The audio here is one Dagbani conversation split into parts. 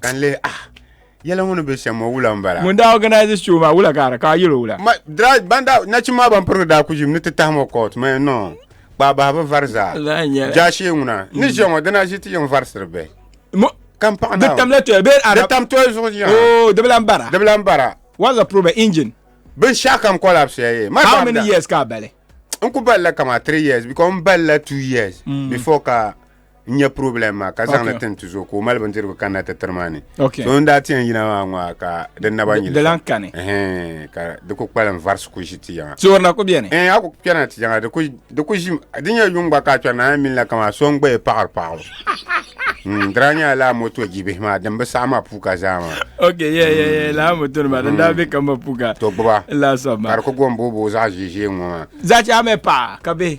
ka n lihi ah yɛla ŋɔ ni bɛ shɛm ŋɔ wula n bala ŋun daa organize show maa wula ka ka yɛlo wula ma dira ban daa nachim maa ban pirigi daa ku ʒim ni ti tahi ŋɔ court ma no kpaa bahi bi vari zaa Laa nyɛla. jaashee ŋuna ni ʒiya ŋɔ dina ʒi ti yɛn varisiri bɛ Mo- ka n paɣa di naawuni. tamla toya bee di arab tam toya zuɣu ʒiya oh di bi lan bara di bi lan bara what's the problem engine binshɛɣu kam kɔlabisiya ye ma how many damda. years ka a bali n ku balila kama three years because n balila two years before ka n nyɛ problem maa ka zaŋli tin ti zuɣu ka o mali bindirigu kanna ti tiri maa ni so n daa ti yɛn yina maa ŋɔ ka di naba nyili dilan kani ka di ku kpalim varisi ku ʒi ti yaŋa tiorina ku bɛni ɛɛ a ku kpɛna ti yaŋa di ku ʒi di nyɛ yuŋ gba ka a kpɛrina a minila kama so n gbaya paɣiri paɣibu hmm, dira nyɛla laa moto jibihi maa din bi saɣi ma puuka zaa maa ok yɛ yɛ yɛ laa moto nima din daa bɛ ka ma puuka to gbuba laa sɔb ma ka di ku gom booboo zaɣ ʒiʒiɛ ŋɔ maa zaɣ chɛɣa mɛ paɣa ka bɛ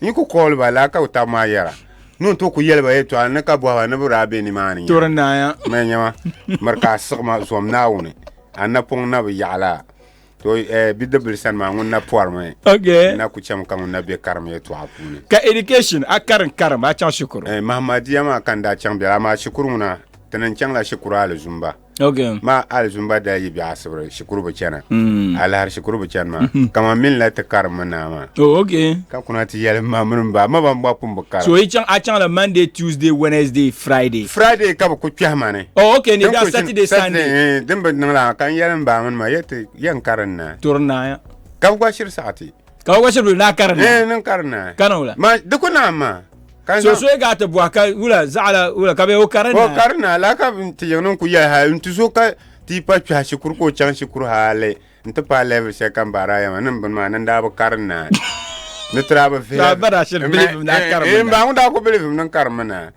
N yi ku kɔɔli ba laa ka ku tabi maa yɛra, ni o ni tooi ku yɛli ba yɛtɔɣa ni ka bɔhi ba ni bɛ daa be nimaani nya. Tɔri naaya. Mali nyɛma, miri ka a siɣi ma zom Naawuni, a ni na pɔŋ na bi yaɣi la to bidibbil sani maa ŋun na pɔrimi. Ok. N na ku chɛmi ka ŋun na be karim yɛtɔɣa puuni. Ka education, a karim karim, a chaŋ shikuru? Mahamadia maa ka n daa chaŋ bela, amaa shikuru ŋuna, ti ni chaŋ la shikuru hali zumba. Okay. maa alizumba daa yi bɛ asibiri shikuru bi chana Mm. alahari shikuru bi chani maa kama min la ti karim mi naa maa Oh, okay. ka kuna ti yɛli ma mini ba ma ban bɔ pun bi karim So yi chaŋ a chaŋ la Monday, Tuesday, Wednesday, Friday. friday ka bi ku kpɛhi ma ni Oh, okay. Ni Din da ku Saturday, shini- Sunday. eh, din bi niŋ la ka n yɛli n ba mini ma yɛ ti yɛn karim naa Turi naaya. ka bi gba shiri saɣati Ka o gba shiri na karin. eh niŋ karim naa Kana o la. ma di ku naam maa So so ga ti bɔhi ka wula zaɣala wula ka be o kari naa. O kari naa la ka ti yiŋ niŋ ku yɛli ha n ti so ka ti pa kpɛha shikuru ka o chaŋ shikuru hali n ti paai level shɛli ka n baari a yɛma niŋ bini maa ni n daa bi kari naa ni tira bi vihi. Ba daa shiri bilivim ni a eh, karimi eh, naa. N ba ŋun daa ku bilivim ni n karimi naa.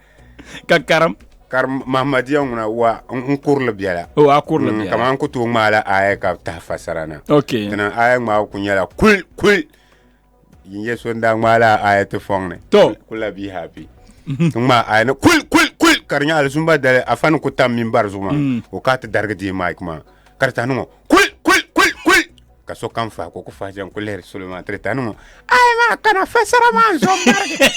Ka karim. kari mahamadia ŋuna wa n kurili biɛla o a kurili mm, biɛla kamani ku tooi ŋmaala aya ka taha fasara na ok tina aya ŋmaabu ku nyɛla kul kul Yin yɛ so n daa ŋmaa la aya ti fɔŋ ni. To. Kul la be happy. Mhm. Ti ŋmaa aya ni kul kul kul ka di nyɛ alizumba dali afa ni ku tam mini bari zuɣu maa mhm. o ka ti darigi deei mic maa ka di tahi niŋɔ kul kul kul kul ka so kam fahi ka o ku fahi jɛm ku lihiri solo maa ti di tahi niŋɔ aya maa kana fasara maa n zo n barigi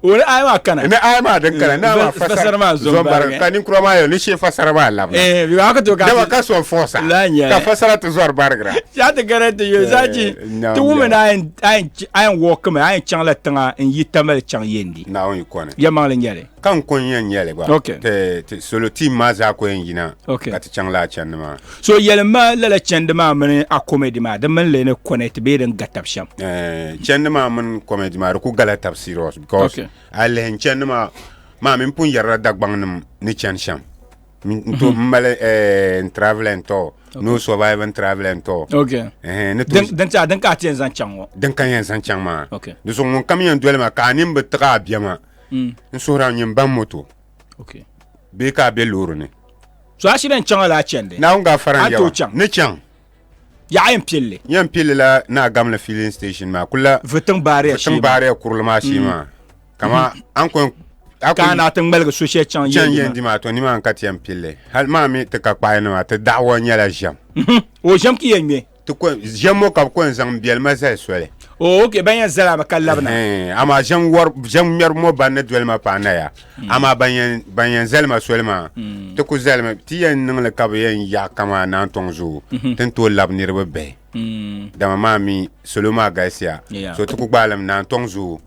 wani aya maa kana ni aya maa din kana naa maa fasara maa zɔmbariga ka ninkura maa yɛli ni shee fasara maa labina eh bi ba ka to ka dama ka sɔn fɔɔsa La nyɛ. ka fasara ti zɔri barigira ya ti gɛrɛ ti yɛ zaji Eh, naam, ti wumi na naam. ayin ayin wɔki mi ayin chaŋ la tiŋa n yi tamali chaŋ yendi naawuni yi kɔni ya maŋli nyɛli ka n kɔni yɛn nyɛli gba Ok. ti ti solo tiim maa zaa ko yɛn yina Ok. ka ti chaŋ laa chɛndi maa so yɛlim ma lala chɛndi maa mini a comedy maa di mini leni connect bee din ga tab shɛm eh, chɛndi maa mini comedy maa di ku gala tab serious because okay. a lihin chɛndi maa maa min pun yɛrila dagbaŋnim ni chɛni shɛm n to n mali n travel n tɔ no survive n travel n tɔ din tiɛha din ka a ti yɛn zaŋ chaŋ ŋɔ din ka yɛn zaŋ chaŋ maa di so ŋun kam yɛn doli ma ka a nin bi tiɣa a bɛma n suhura nyini ban moto okay bee ka a be loori ni so a shidɛn chaŋa la a chɛndi naawuni ka fara n yɛba ni chaŋ yaɣa yɛn pilli yɛn pilli la na gamli filling station maa kula vitiŋ baariya vitiŋ baariya kurili maa shee maa kama an kɔn ka na ti ŋmaligi so shɛli chaŋ chaŋ yɛn di maa to ni maa n ka ti yɛn pilli hali maa mi ti ka kpaai nima ti daɣawa nyɛla ʒɛm o ʒɛm ki yɛn ŋmɛ ti ko ʒɛm ŋɔ ka bi ko n zaŋ biɛlima zali soli o ok ban yɛn zala bi ka labina Ɛhɛn, amaa ʒɛm wari ʒɛm ŋmɛri ŋɔ ban ni doli ma paana ya Mm. amaa ban yɛn ban yɛn zali ma soli maa Mm. ti ku zali mi ti yɛn niŋli ka bi yɛn yaɣi kamaa naan tɔŋ zoo Mhm. ti ni tooi labi niriba bihi Mm. dama maa mi salo maa galisiya Yeah. so ti ku gbaai li mi naan tɔŋ zoo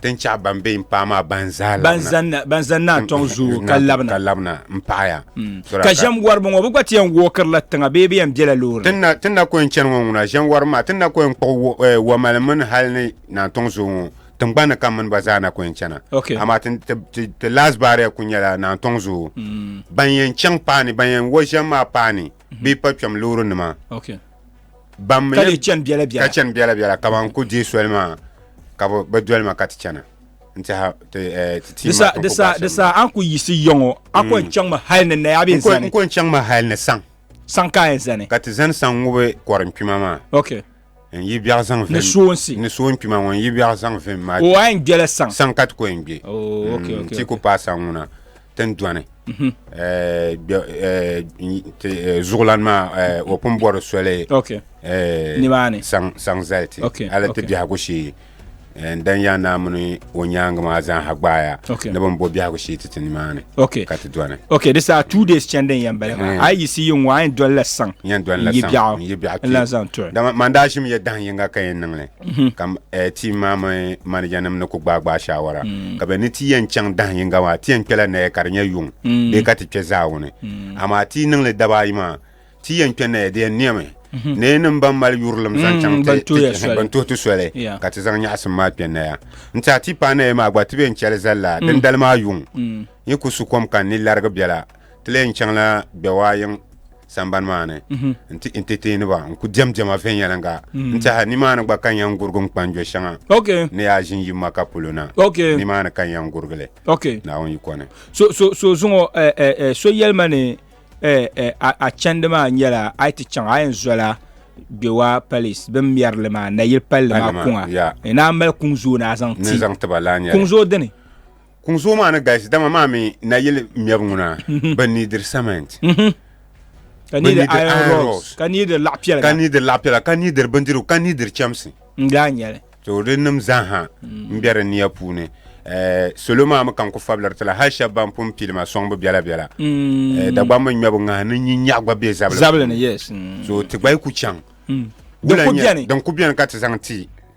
Ti ni chaɣ ban be n paai maa ban zaa labina. Ban zani naa tɔŋ zuyu ka labina. Ka labina n paɣaya. Ka ʒem wariba ŋɔ bi gba ti yɛn wuɣi kiri la tiŋa bee bi yɛn bela loori ni. Ti ni na ko yɛn chani ŋɔ ŋuna ʒem wariba maa ti ni na ko yɛn kpuɣi wamali mini hali ni naa tɔŋ zuyu ŋɔ tiŋgbani ni ka mini ba zaa na ko yɛn chana. Amaa ti last barrier kuli nyɛla naa tɔŋ zuyu ban yɛn chaŋ paani ban yɛn wo ʒem maa paani bee pa kpɛm loori nima. ka lee chani biɛla biɛla ka chani biɛla biɛla ka ban ku deei soli maa ka bi doli ma ka ti chana n tiɛha ti eh, ti ma di sa di sa an ku yiɣisi yɔŋɔ a ko n chaŋ mi hali ni naya bɛ zani n ko n chaŋ mi hali ni saŋ saŋ ka a zani ka ti zani saŋ ŋubi kɔri n kpima maa okay n yi biɛɣu zaŋ vim ni soonsi ni soon kpima ŋɔ n yi biɛɣu zaŋ vim maa o a n gbɛla saŋ saŋ ka ti ko n gbɛ oh, mm, ti ku paai saŋ ŋuna tindɔni zuɣulan maa o pun bɔri soli saŋ zali ti hali ti biɛhigu shee n dan yaa naa mini o nyaangi maa zaaha gbaaya ni bin bo biɛhigu shee ti ti nimaani ka ti dɔni ok di saa two days chɛndi n yɛn bala maa a yi yiɣisi yi ŋɔ a yɛn dolila saŋ n yi biɛɣu n lan zaŋ tɔli dama man daa ʒimi yɛ dahin yinga ka yɛn niŋli Mm-hmm. ka eh, ti maa mi manager nim ni ku gbaai gbaai shawara mm. ka bɛ ni ti yɛn chaŋ dahin yinga maa ti yɛn kpɛla naya ka di nyɛ yuŋ mm. bee ka ti kpɛ zaawuni mm. amaa ti niŋli daba ayi maa ti yɛn kpɛ naya di yɛn niɛmi mm-hmm. nee nim ban mali yurilim zaŋ chaŋ ban tuhi ti soli ka ti zaŋ nyaɣasim maa kpɛ naya n ti a ti paai naya maa gba ti bɛ n chɛli zali la dindali maa yuŋ yi ku su kom ka ni larigi biɛla ti lee n chaŋla Gbewaayiŋ sambani maa ni mhm. n ti entertainiba n ku diɛm diɛma viɛnyɛliŋga mhm. n tiɛha nimaani gba ka n yɛn gurigi n kpanjo shɛŋa ni yaa ʒin yi maka polo na nimaani ka n yɛn gurigili naawuni yiko ni so zuŋɔ eh, eh, eh, so yɛlima ni a chɛndi maa nyɛla a yi ti chaŋ a yɛn zola gbewa palace bin mɛrili maa nayili palli maa kuŋa ni a mali kuŋ zooi ni a zaŋ ti kuŋ zooi dini Kuŋ zuɣu maa ni galisi dama maa mi nayili mɛbu ŋuna mhm. bɛ nidiri cement mhm. ka nidiri iron rods ka nidiri laɣipiɛla ka nidiri laɣipiɛla ka nidiri bindirigu ka nidiri chɛmsi n-daa nyɛli to di nim zaaha mm. n-be di nia puuni eh, salo maa mi ka n-ku fabiriti la hali shɛba ban pun pili ma sɔŋbu biɛla biɛla mm. eh, Dagbamba ŋmɛbu ŋahi ni nyin nyɛɣu gba be zabili ni yes mm. so ti gba yi ku chaŋ din ku beni ka ti zaŋ ti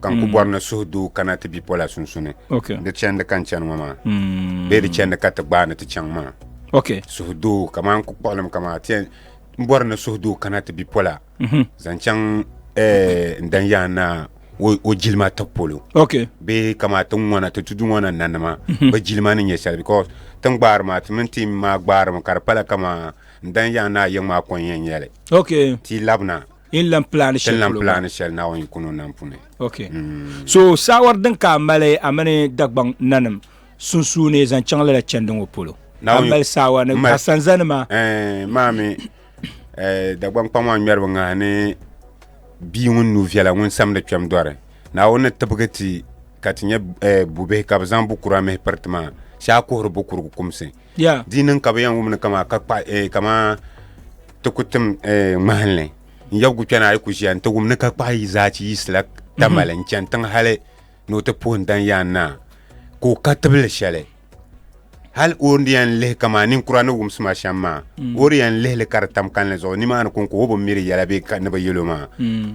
ka n ku bɔri ni suhu doo kana ti bipola sunsuni di chɛndi ka n chani ŋɔ maa bee di chɛndi ka ti gbaai ni ti chaŋ maa suhu doo kamaa n ku kpuɣilim kamaa n bɔri ni suhu doo kana ti bipola zaŋ chaŋ n dan yaa naa o jilima ti polo bee kamaa ti ŋɔna ti tudu ŋɔna nanima bi jilima ni nyɛ shɛli because ti ni gbaari maa ti mini ti maa gbaarimi ka di pala kamaa n dan yaa naa yiŋ maa kɔŋ yɛn nyɛli ti labina Yin lan plan shɛli lan polo plan shɛli Naawuni kuni o nam puni. Okay. Mm. So saawar din ka mali a mini Dagbaŋ nanim sunsuuni zaŋ chaŋ lala chɛndi ŋɔ polo. Naawuni mali saawa ni a sanzani ma. Eh, maami eh, Dagbaŋ kpaŋ maa ŋmɛribi ŋahi ni bia ŋun nu viɛla ŋun samdi kpɛm dɔri. Naawuni ni tibigi ti ka ti nyɛ eh, bubihi ka bi zaŋ bukura mihi piriti maa, shɛ a kuhiri bukurigu kumsi. Yeah. Di niŋ ka bɛ yɛn wumni kamaa ka kpa eh, kamaa ti ku tim eh, ŋmahinli n yɛbigu kpɛna a yi ku ʒiya n ti wum ni ka kpahi yi zaa chi yiɣisila tamali n chani tiŋ hali ni o ti puhi n danyaan naa ka o ka tibili shɛli hal o ni yɛn lihi kamaa ninkura ni wumsima shɛm maa o di yɛn lihili ka di tam kanli zuɣu nimaani ko n ko o bi miri yɛla bee ka ni bi yɛl o maa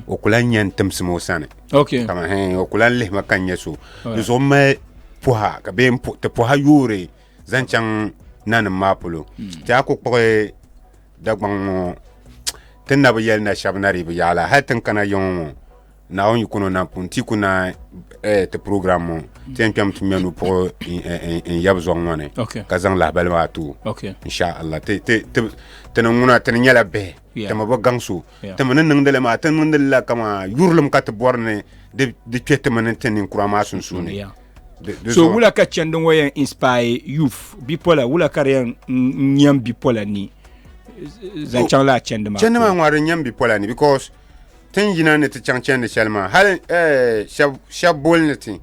o ku lan yɛn timsim o sani Okay. kama hɛn o ku lan lihima ka n nyɛ so di zuɣu n mali pɔha ka bee n pu- ti pɔha yoori zaŋ chaŋ nanim maa polo hmm. ti a ku kpuɣi dagbaŋ ŋɔ ti na bi yɛli na shɛba na di bi yaɣala hali tin kana yɛŋɔ ŋɔ naawuni yikono na pun ti ku na eh, ti program ŋɔ hmm. ti yɛn kpɛm ti mɛnu puɣi n yɛbi zɔŋ ŋɔ ni ka zaŋ lahabali maa tu insha allah ti ni ŋuna ti ni nyɛla bihi timi bi gaŋ so timi ni niŋdili maa ti niŋdili la kama yurilim ka ti bɔri ni di kpɛ timi ni ti ninkura maa sunsuuni so wula ka chɛndi ŋɔ yɛn inspire youth bipola wula ka di yɛn nyɛm bipola ni zaŋ oh, chaŋ la chɛndi maa chɛndi maa ŋɔ di nyɛm bipola ni because tin yina ni ti chaŋ chɛndi shɛli maa hali eh, shɛb boli ni ti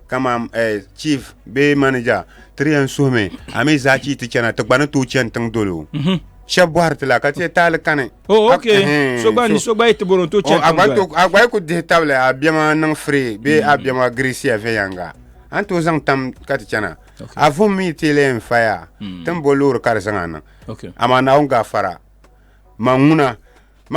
kamam eh, chief bee manager ti di yɛn suhimi a mi zaɣ chii ti chɛna ti gba ni tooi chɛni tiŋ dolo mhm. shɛba bɔhiri ti la ka ti taali kani. Oh, ok. Eh, so gba ni so gba yi ti bɔro to chɛn tiŋ doli. A gba yi ku dihi tabili a bɛma niŋ free bee a bɛma mm. Grecia viɛnyɛŋga. A ni tooi zaŋ tam ka ti chana. A vum mi ti lee n faya mm. ti ni bo loori ka di zaŋ a niŋ. Amaa Naawuni gaafara man ŋuna.